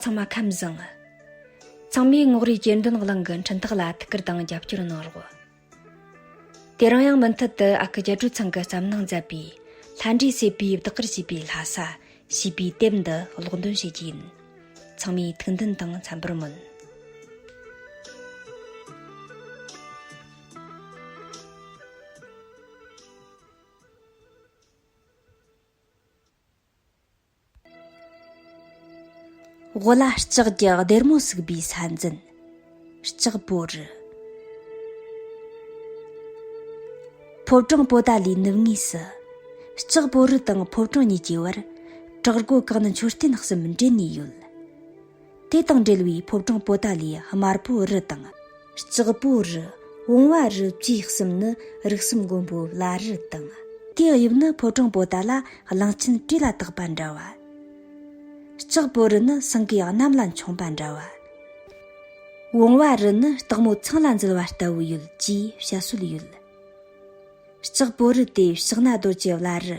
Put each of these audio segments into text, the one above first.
ཚང་མ་ཁམས་བཟང། ཚང་མས་ངོགས་རེའི་གྱེར་འདོན་གླིང་གི་འཕྲིན་ཐག་ལ་ཐུགས་ཁུར་དང་རྒྱབ་སྐྱོར་གནང་རོགས། དེ་རིང་ཡང་མུ་མཐུད་དུ་ཨ་ཁུ་རྒྱལ་སྒྲོལ་ཚང་གི་བརྩམས་གནང་མཛད་པའི། ལྷ་འདྲེའི་བསད་པའི་བདག་གིར་བྱས་པའི་ལྷ་ས། ཞེས་པའི་དེབ་འདི་ཀློག་འདོན་བྱེད་ཀྱི་ཡིན། ཚང་མས་ཐུགས་འདུན་དང་འཚམས་པར་སྨོན། དབུ་ལ་ལྕགས་ཀྱི་སྡེར་མོ་ཟུག་པའི་ས་འཛིན་ལྕགས་པོ་རི། ཕོ་བྲང་པོ་ཏཱ་ལའི་ནུབ་ངོས་སུ་ལྕགས་པོ་རི་དང་ཕོ་བྲང་གཉིས་ཀྱི་བར་བྲག་སྒོ་གང་ན་མཆོད་རྟེན་གསུམ་འབྲེལ་ནས་ཡོད། དེ་དང་འབྲེལ་བའི་ཕོ་བྲང་པོ་ཏཱ་ལའི་དམར་པོ་རི་དང། ལྕགས་པོ་རི། བོང་བ་རི་བཅས་གསུམ་ནི་རིགས་གསུམ་མགོན་པོའི་བླ་རི་དང། དེའི་དབྱིབས་ནི་ཕོ་བྲང་པོ་ཏཱ་ལ་གླང་ཆེན་བཀྲེས་ལ་བཏགས་པ་འདྲ་བ། ལྕགས་པོ་རི་ནི་སེང་གེ་གནམ་ལ་མཆོངས་པ་འདྲ་བ། བོང་བ་རི་ནི་སྟག་མོ་ཚང་ལ་འཛུལ་བ་ལྟ་བུ་ཡོད་ཅེས་བཤད་སྲོལ་ཡོད། ལྕགས་པོ་རི་དེ་ཕྱག་ན་རྡོ་རྗེ་བླ་རི།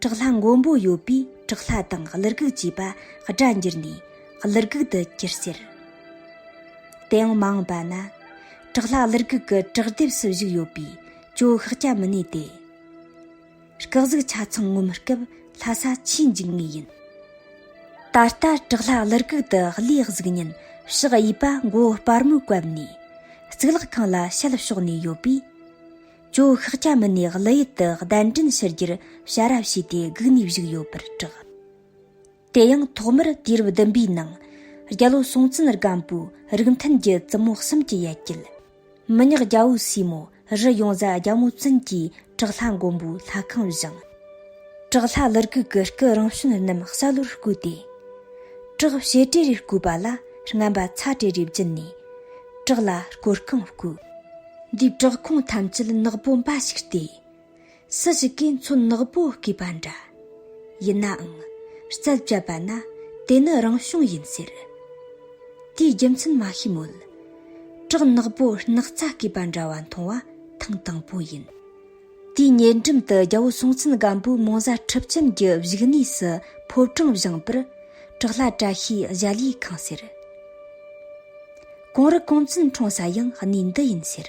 བྲག་ལྷ་མགོན་པོ་ཡོད་པའི་བྲག་ལྷ་དང་ཀླུ་རྒུག་ཅེས་པ་སྒྲ་འགྱུར་ནས་ཀླུ་རྒུག་ཏུ་གྱུར་ཟེར། དེའང་མ་འོངས་པ་ན་བྲག་ལྷ་ཀླུ་རྒུག་གི་བྲག་ལྡེབས་སུ་བཞུགས་ཡོད་པས་ཅོ་ཤག་སྐྱ་མི་གནས་ཏེ། སྐག་གཟུགས་ཆ་ཚང་ངོ་མི་སྐབས་ལྷ་ས་ཆེས་འཇིགས་ངེས་ཡིན། ད་ལྟ་བྲག་ལྷ་ཀླུ་རྒུག་ཏུ་ཀླུའི་གཟུགས་བརྙན་ཕྱག་གཡས་པ་མགོ་བོ་སྤར་མོས་བཀབ་ནས་གཙུག་ལག་ཁང་ལ་ཞལ་ཕྱོགས་ནས་ཡོད་པས། ཅུང་ཤག་སྐྱ་མི་སྣས་གླུ་ཡུལ་དུ་གདན་འདྲེན་ཕྱི་རྒྱུར་ཞལ་རབས་བྱས་ཏེ་བསྒུགས་ནས་བཞུགས་ཡོད་པར་གྲགས། དེ་ཡང་ཐོག་མར་དུས་རབས་བདུན་པའི་ནང་རྒྱལ་ལོ་སྲོང་བཙན་སྒམ་པོའི་རིགས་མཐུན་གྱི་བཙུན་མོ་གསུམ་གྱི་ཡལ་གྱལ། མི་ཉག་རྒྱ་བོའི་སྲས་མོ་རི་ཡོངས་བཟའ་རྒྱ་མོ་བཙུན་གྱིས་བྲག་ལྷ་མགོན་པོའི་ལྷ་ཁང་བཞེངས། བྲག་ལྷ་ལི་སྐུ་གི་སྐུ་རང་བྱོན་རྣམས་ཞྭ་ལོར་བསྐོས་ཏེ། བྲག་བྱེ་བྲས་རིར་བསྐོས་པ་ལ་རྔམ་པ་ཚ་བྲས་རེ་བརྒྱུད་ནས། བྲག་ལྷ་སྐོར་སྐང་བསྐོས། འདིས་བྲག་ཁུང་ཐམས་ཅད་ནག་པོ་འབའ་ཞིག་སྟེ། སུ་ཞིག་གིས་མཚོན་ནག་པོ་བསྐུས་པ་འདྲ། ཡིན་ནའང། རྩལ་བཅད་པ་ན་དེ་ནི་རང་བྱུང་ཡིན་ཟེར། དེའི་རྒྱུ་མཚན་མ་ཤེས་མོད། བྲག་ནག་པོ་སྣག་ཚ་བསྐུས་པ་འདྲ་བ་མཐོང་བ་ཐེངས་དང་པོ་ཡིན། དེའི་ཉེ་འགྲམ་དུ་རྒྱལ་པོ་སྲོང་བཙན་སྒམ་པོའི་མོ་གཟའ་འཁྲིབ་ཅན་གྱི་བཞུགས་གནས་སུ་ཕོ་བྲང་བཞེངས་པར་བྲག་ལྷ་བཀྲ་ཤིས་གཞལ་ཡས་ཁང་ཟེར། གོང་རི་ཀོང་བཙུན་འཁྲུངས་ས་ཡང་གནས་འདི་ཡིན་ཟེར།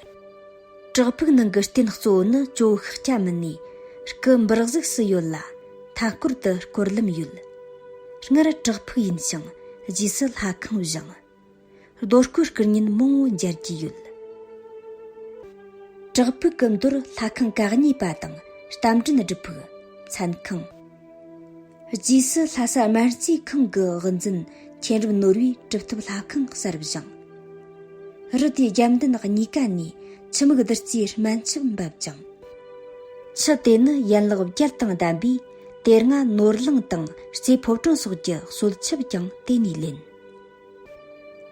བྲག་ཕུག་ནང་གི་རྟེན་གཙོ་བོ་ནི་ཇོ་བོ་ཤཱཀྱ་སྐྱ་མི་ནི་སྐུ་འབུར་གཟུགས་སུ་ཡོད་ལ་མཐའ་སྐོར་དུ་སྐོར་ལམ་ཡོད། སྔར་བྲག་ཕུག་ཡིན་ཞིང་རྗེས་སུ་ལྷ་ཁང་བཞེངས། རྡོ་བརྐོས་སྐུ་བརྙན་མང་བོ་མཇལ་རྒྱུ་ཡོད། བྲག་ཕུག་གི་མདོར་ལྷ་ཁང་ག་གཉིས་པ་དང་རྟ་མགྲིན་སྒྲུབ་ཕུག། མཚན་ཁང། རྗེས་སུ་ལྷ་ས་སྨན་རྩིས་ཁང་གི་དབུ་འཛིན་མཁྱེན་རབ་ནོར་བུའི་གྲུབ་ཐོབ་ལྷ་ཁང་གསར་བཞེངས། རི་དེའི་རྒྱབ་མདུན་གཉིས་ཀ་ནས་ཆུ་མིག་བདུད་རྩིའི་སྨན་ཆུ་འབབ་ཅིང། ཆུ་དེ་ནི་ཡན་ལག་བརྒྱད་དང་ལྡན་པས་དེ་སྔ་ནོར་གླིང་དང་རྩེ་ཕོ་བྲང་སོགས་ཀྱི་གསོལ་ཆུབ་ཀྱང་དེ་ནས་ལེན།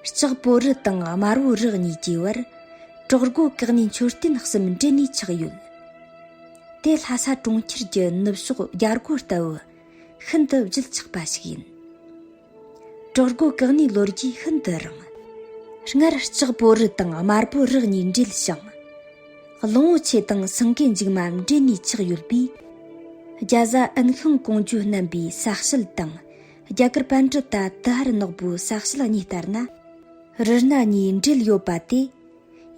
ལྕགས་པོ་རི་དང་དམར་བོ་རི་གཉིས་ཀྱི་བར་གྲོག་རྒོད་བཀག་ནས་མཆོད་རྟེན་གསུམ་འབྲེལ་ནས་ཆགས་ཡོད། དེ་ལྷ་ས་གྲོང་ཁྱེར་གྱི་ནུབ་ཕྱོགས་རྒྱ་སྒོ་ལྟ་བུ་ཤིན་ཏུ་བརྗིད་ཆགས་པ་ཞིག་ཡིན། གྲོག་རྒོད་བཀག་ནས་ལོ་རྒྱུས་ཤིན་ཏུ་རིང། སྔར་ལྕགས་པོ་རི་དང་དམར་བོ་རི་གཉིས་འབྲེལ་ཞིང། ལོང་བོ་ཆེ་དང་སེང་གེ་འཇིགས་མ་འབྲེལ་ནས་ཆགས་ཡོད་པས། རྒྱ་བཟའ་ཨན་ཤིང་ཀོང་ཇོ་རྣམ་པའི་ས་བཤད་དང། རྒྱ་གར་པཎ་གྲི་ད་ཏི་ཧར་ནག་པོའི་ཟག་བྱེད་གཉིས་ལྟར་ན། རི་སྣ་གཉིས་འབྲེལ་ཡོད་པ་དེ།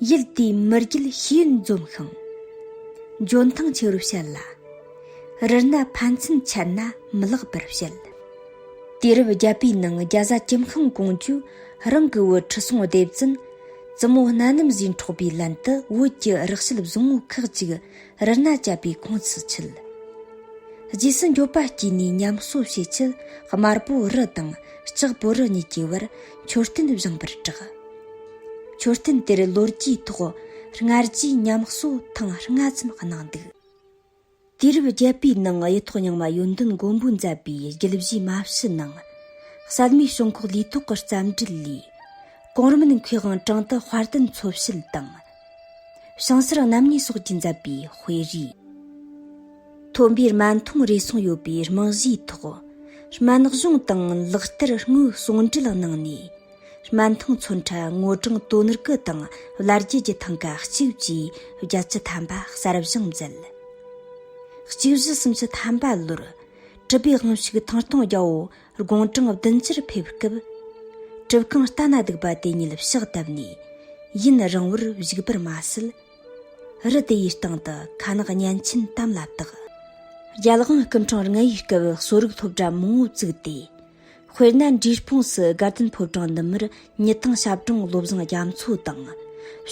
ཡུལ་དེའི་མི་རྒྱུད་ཤེས་ཡོན་འཛོམས་ཤིང། འཇོན་ཐང་ཆེ་རུ་བྱེད་ལ། རི་སྣ་ཕན་ཚུན་ཁྱད་ན་མི་ལེགས་པར་བྱེད། དུས་རབས་བརྒྱད་པའི་ནང་རྒྱ་བཟའ་ཀྱིམ་ཤང་ཀོང་ཅུས་རང་གི་བོད་ཁྲི་སྲོང་ལྡེ་བཙན། བཙུན་མོ་སྣ་ནུམ་བཞིན་འཕྲོག་པའི་ལན་དུ་བོད་ཀྱི་རགས་བཤད་བཟང་བོ་ཁག་ཅིག། རི་སྣ་བཅད་པའི་ཁོང་ཚུར་ཆུད། རྗེས་སུ་མགྱོགས་པ་སྐྱེས་ནས་ཉམས་གསོ་བྱེད་ཆེད་དམར་པོ་རི་དང་ལྕགས་པོ་རི་གཉིས་ཀྱི་བར་མཆོད་རྟེན་བཞེངས་པར་གྲགས། མཆོད་རྟེན་དེར་ལོ་རྒྱུས་ཐོག་སྔར་རྗེས་ཉམས་གསོ་ཐེངས་ལྔ་ཙམ་གནང་འདུག། དུས་རབས་བརྒྱད་པའི་ནང་གཡུ་ཐོག་རྙིང་མ་ཡོན་ཏན་མགོན་པོས་མཛད་པའི་རྒྱུད་བཞིའི་མ་ཕྱི་ནང་གསལ་མའི་བྱུང་ཁུངས་ལུས་ཐོག་གི་རྩམ་དྲིལ་ལས། གོང་རིམ་ནི་མཁས་དབང་ཀྲང་ཏི་དཔལ་ལྡན་འཚོ་བྱེད་དང། ཞིང་སར་གནམ་ནས་སོགས་ཀྱིས་མཛད་པའི་དཔེ་རིས། ཐོན་པའི་རྨ་འཐུང་རེ་ཟུང་ཡོད་པའི་རྨང་གཞིའི་ཐོག་རྨ་ནག་གཞུང་དང་ལག་བསྟར་དངོས་ཟུང་འབྲེལ་གནང་ནས། རྨ་འཐུང་མཚོན་ཁྲ་སྔོ་སྦྲང་དོ་ནུར་ཀུ་དང་བླ་རྒྱལ་གྱི་ཐང་ག་གཅིག་བཅས་བརྒྱད་ཅུ་ཐམ་པ་གསར་བཞེངས་མཛད། གཅིག་བཞི་སུམ་ཅུ་ཐམ་པ་ལོར། གྲུབ་པའི་དབང་ཕྱུག་ཐང་སྟོང་རྒྱལ་པོ་དགུང་གྲངས་བདུན་ཅུར་ཕེབས་སྐབས། གྲུབ་རྐང་རྟ་ན་སྡུག་པ་དེ་ཉིད་ཕྱག་བཏབ་ནས་ཡུན་རིང་བོར་བཞུགས་པར་མ་ཟད། རི་དེ་ཡི་སྟེང་དུ་ཁ་ནག་གཉན་ཆེན་དམ་ལ་བཏགས། རྒྱལ་དབང་སྐུ་འཕྲེང་ལྔ་ཡི་སྐབས་གསོ་རིག་སློབ་གྲྭ་མང་བོ་བཙུགས་ཏེ། དཔེར་ན་འབྲས་སྤུངས་སུ་དགའ་ལྡན་ཕོ་བྲང་ནུབ་མར་ཉི་ཐང་ཞབས་དྲུང་བློ་བཟང་རྒྱ་མཚོ་དང།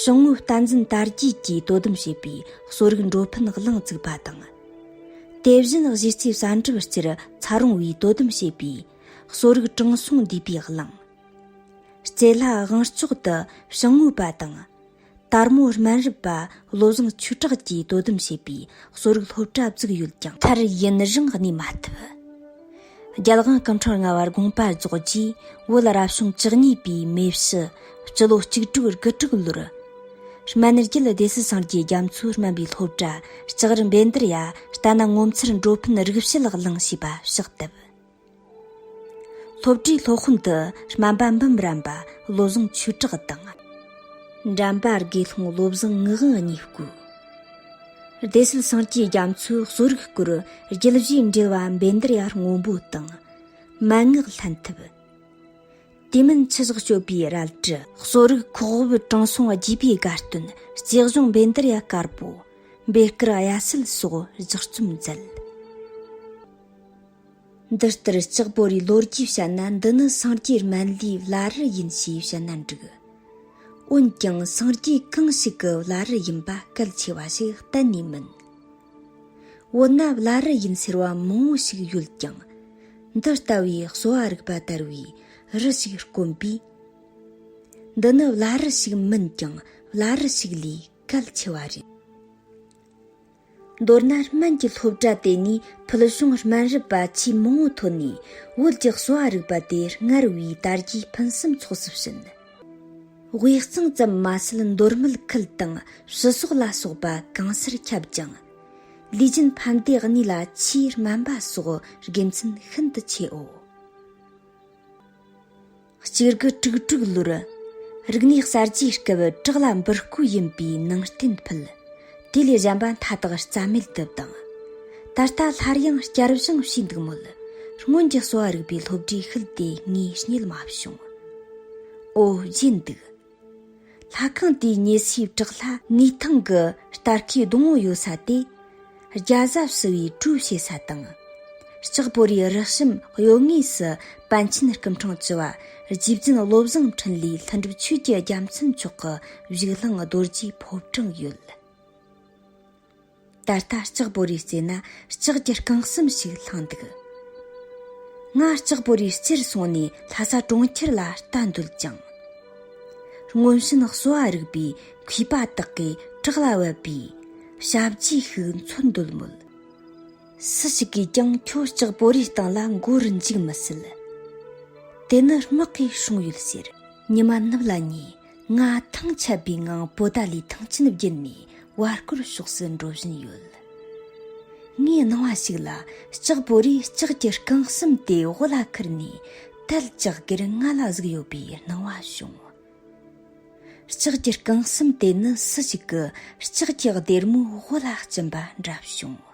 ཞང་བོའི་རྟ་འཛིན་དར་རྒྱས་ཀྱིས་དོ་དམ་བྱེད་པའི་གསོ་རིག་འགྲོ་ཕན་གླིང་བཙུགས་པ་དང། དེ་བཞིན་གཞི་རྩའི་བསལ་འདེམས་སྤྱིར་འཚར་འོང་བའི་དོ་དམ་བྱེད་པའི་གསོ་རིག་གྲངས་སོང་འདུས་པའི་གླིང། སྐྱེ་ལྷ་དབང་ལྕོག་ཏུ་བྱང་ངོས་པ་དང། དར་མོ་སྨན་རི་པ་བློ་བཟང་ཆོས་གྲགས་ཀྱིས་དོ་དམ་བྱེད་པའི་གསོ་རིག་སློབ་གྲྭ་བཙུགས་ཡོད་ཀྱང། མཐར་ཡུན་རིང་གནས་མ་ཐུབ། རྒྱལ་དབང་སྐུ་འཕྲེང་ལྔ་བར་དགོངས་པ་རྫོགས་རྗེས་བོད་རབ་བྱུང་བཅུ་གཉིས་པའི་མེ་བཞི་སྤྱི་ལོ་གཅིག་དྲུག་དགུ་དྲུག་ལོར། སྨན་རྒྱལ་སྡེ་སྲིད་སངས་རྒྱས་རྒྱ་མཚོས་སྨན་པའི་སློབ་གྲྭ་ལྕགས་རི་འབེན་དར་ཡ་ལྟ་ན་ངོ་མཚར་འགྲོ་ཕན་རིག་བྱེད་ལག་བླངས་བྱས་པ་གཤེགས་བསྟབས། སློབ་གྲྭའི་སློབ་དཔོན་དུ་སྨན་པ་འབུམ་རམས་པ་བློ་བཟང་ཆོས་གྲགས་དང། འགྲམ་པ་དགེ་སློང་བློ་བཟང་ངག་དབང་གཉིས་བསྐོས། བདེ་གསོལ་སངས་རྒྱས་རྒྱ་མཚོའི་གསོ་རིག་སྐོར་རྒྱུད་བཞི་འགྲེལ་བ་འབེན་དར་ཡར་སྔོན་པོ་དང། མན་ངག་ལྷན་ཐབས། དེ་མིན་ཆུ་ཟགས་སྤྱོད་པའི་རལ་གྲི། གསོ་རིག་ཁོག་དབུབ་དྲང་སྲོང་རྒྱས་པའི་དགའ་སྟོན་རྩེ་གཞུང་འབེན་དར་ཡ་དཀར་པོ། འབེལ་དཀར་གཡའ་སེལ་སོགས་སྦྱར་རྩོམ་མཛད། འདི་ལྟར་ལྕགས་པོ་རའི་ལོ་རྒྱུས་བཤད་ན་འདི་ནི་སངས་རྒྱས་སྨན་བླའི་བླ་རི་ཡིན་ཞེས་བཤད་ན་འགྲིག། འོན་ཀྱང་སངས་རྒྱས་གང་ཞིག་གི་བླ་རི་ཡིན་པ་གལ་ཆེ་བ་ཞིག་གཏན་ནས་མིན། འོ་ན་བླ་རི་ཡིན་ཟེར་བ་མང་བོ་ཞིག་ཡོད་ཀྱང། འདི་ལྟ་བུའི་གསོ་བ་རིག་པ་དར་བའི་རི་ཞིག་དཀོན་པས། འདི་ནི་བླ་རི་ཞིག་མིན་ཀྱང་བླ་རི་ཞིག་ལས་གལ་ཆེ་བ་རེད། མདོར་ན་སྨན་གྱི་སློབ་གྲྭ་དེ་ནས་ཕུལ་བྱུང་སྨན་རིག་པ་ཆེས་མང་བོ་ཐོན་ནས་བོད་ཀྱི་གསོ་བ་རིག་པ་དེ་སྔར་བས་དར་རྒྱས་ཕུན་སུམ་ཚོགས་སུ་ཕྱིན། དབུས་གཙང་ཙམ་མ་ཟད་མདོར་མུལ་ཁུལ་དང་ཕྱི་ཟོག་ལ་སོགས་པ་གང་སར་ཁྱབ་ཅིང། ལུས་རྒྱུན་ཕན་བདེ་གནས་ལ་ཆེས་སྨན་པ་སོགས་དགེ་མཚན་ཤིན་ཏུ་ཆེའོ། གཅེར་གུ་དཀྲུག་དཀྲུག་ལོར། རིག་གནས་གསར་བརྗེའི་སྐབས་བྲག་ལ་འབུར་བརྐོས་ཡིན་པའི་ནང་རྟེན་ཕུད། དེ་ལས་གཞན་པ་མཐའ་དག་རྩྭ་མེད་དུ་བཏང། ད་ལྟ་སླར་ཡང་བསྐྱར་བཞེངས་བྱས་འདུག་མོད། སྔོན་གྱི་གསོ་བ་རིག་པའི་སློབ་གྲྭའི་ཤུལ་དེ་ངས་རྙེད་མ་བྱུང། ཨོ་བརྗེད་འདུག། ལྷ་ཁང་དེའི་ཉེ་སའི་བྲག་ལྷ་ངུའི་ཐང་གི་སྟར་ཁའི་སྡོང་བོ་ཡོད་ས་དེ། རྒྱ་བཟའ་བསུ་བའི་གྲུ་བྱེད་ས་དང། ལྕགས་པོ་རིའི་རགས་རིམ་གཡོ་ངོས་སུ་པཎ་ཆེན་སྐུ་འཕྲེང་བཅུ་བ་རྗེ་བཙུན་བློ་བཟང་འཕྲིན་ལས་ལྷུན་གྲུབ་ཆོས་ཀྱི་རྒྱལ་མཚན་མཆོག་གི་བཞུགས་ལྷིང་རྡོ་རྗེའི་ཕོབ་གྲངས་ཡོད། ད་ལྟ་ལྕགས་པོ་རིའི་རྩེ་ན་ལྕགས་ཀྱི་རྐང་གསུམ་ཞིག་ལྷང་འདུག། ང་ལྕགས་པོ་རིའི་རྩེར་སོང་ནས་ལྷ་ས་གྲོང་ཁྱེར་ལ་ལྟ་འདོད་ཀྱང། སྔོན་བྱོན་གསོ་བ་རིག་པའི་མཁས་པ་དག་གི་བྲག་ལ་བབས་པའི་ཞབས་རྗེས་ཤིག་འཚོལ་འདོད་མོད། སུ་ཞིག་གིས་ཀྱང་ཁྱོད་ལྕགས་པོ་རིའི་སྟེང་ལ་འགོ་རུ་འཇུག་མི་སྲིད། དེ་ནི་དམག་གིས་བྱུང་ཡོད་ཟེར། ཉི་མ་ནུབ་ལ་ཉེ། ང་ཐང་ཆད་པའི་ངང་པོ་ཏཱ་ལའི་ཐང་ཆེན་བརྒྱུད་ནས་བར་སྐོར་ཕྱོགས་སུ་འགྲོ་བཞིན་ཡོད། ངའི་སྣང་བ་ཞིག་ལ་ལྕགས་པོ་རིའི་ལྕགས་ཀྱི་རྐང་གསུམ་དེ་དབུ་ལ་ཁུར་ནས་དལ་ལྕགས་སྒེར་ལྔ་ལ་གཟིགས་ཡོད་པའི་སྣང་བ་བྱུང། ལྕགས་ཀྱི་རྐང་གསུམ་དེ་ནི་སུ་ཞིག་གི་ལྕགས་ཀྱི་སྡེར་མོའི་དབུ་ལ་བཅིངས་པ་འདྲ་བྱུང།